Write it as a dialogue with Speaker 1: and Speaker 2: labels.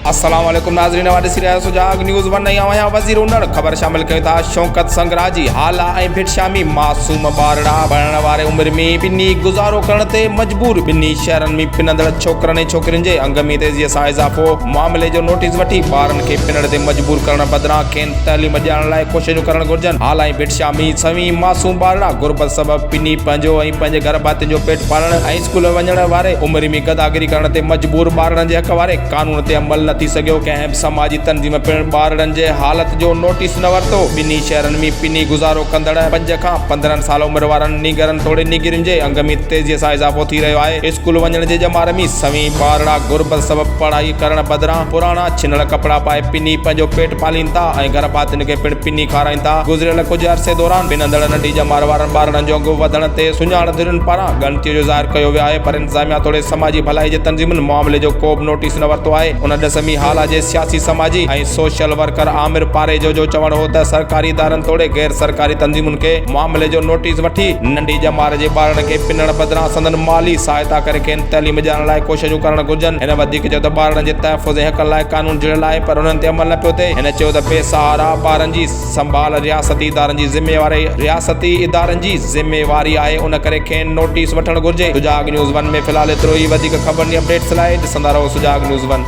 Speaker 1: السلام عليڪم ناظرين اوهان ڏسي رهيا آهيو سجاڳ نيوز ون ۽ آئون آهيان وزير اونڙ خبر شامل ڪيون ٿا شوڪت سنگرا جي هالا ۽ ڀٽ شامي معصوم ٻارڙا بڻڻ واري عمر ۾ ٻنهي گذارو ڪرڻ تي مجبور ٻنهي شهرن ۾ پنندڙ ڇوڪرن ۽ ڇوڪرين جي انگ ۾ تيزي سان اضافو معاملي جو نوٽيس وٺي ٻارن کي پنڙ تي مجبور ڪرڻ بدران کين تعليم ڏيارڻ لاء ڪوششون ڪرڻ گهرجن هالا ۽ ڀٽ شامي سوين معصوم ٻارڙا غربت سبب پني پنهنجو پنهنجي گهر ڀاتين جو پيٽ پالڻ ۽ اسڪول وڃڻ واري عمر ۾ گداگري ڪرڻ تي مجبور ٻارڙن جي حق واري قانون تي عمل نه ٿي سگهيو، ڪنهن به سماجي تنظيم پڻ ٻارڙن جي حالت جو نوٽيس نه ورتو، ٻنهي شهرن ۾ پني گذارو ڪندڙ پنج کان پندرهن سال عمر وارن نينگرن توڙي نينگرين جي انگ ۾ تيزي سان اضافو ٿي رهيو آهي، اسڪول وڃڻ جي ڄمار ۾ سوين ٻارڙا غربت سبب پڙهائي ڪرڻ بدران پراڻا ڇنل ڪپڙا پائي پني پنهنجو پيٽ پالين ٿا ۽ گهر ڀاتين کي پڻ پني کارائين ٿا. گذريل ڪجهه عرصي دوران ٻن اندڙ ننڍي ڄمار وارن ٻارڙن جو انگ وڌڻ تي سڃاڻ ڌرين پاران ڳڻتيء جو ظاهر ڪيو ويو آهي پر انتظاميا توڙي سماجي ڀلائي جي تنظيمن معاملي جو ڪوبه نوٽيس نه ورتو آهي ان ڏس ۾ هالا جي سياسي سماجي ۽ سوشل ورڪر عامر پاريجو جو چوڻ هو ته سرڪاري ادارن توڙي غير سرڪاري تنظيمن کي معاملي جو نوٽيس وٺي ننڍي ڄمار جي ٻارڙن کي پنڻ بدران سندن مالي سهائتا ڪري کين تعليم ڏيارڻ لاء ڪوششون ڪرڻ گهرجن هن وڌيڪ چيو ته ٻارڙن جي تحفظ ۽ حقن لاء قانون جڙيل آهي پر انهن تي عمل نه پيو ٿئي. هن چيو ته بي سهارا ٻارن جي سنڀال رياستي ادارن جي ذميواري رياستي ادارن جي ذميواري آهي ان ڪري کين نوٽيس وٺڻ گهرجي سجاڳ نيوز ون ۾ في الحال ايترو ئي وڌيڪ خبرن جي اپڊيٽس لاء ڏسندا رهو سجاڳ نيوز ون.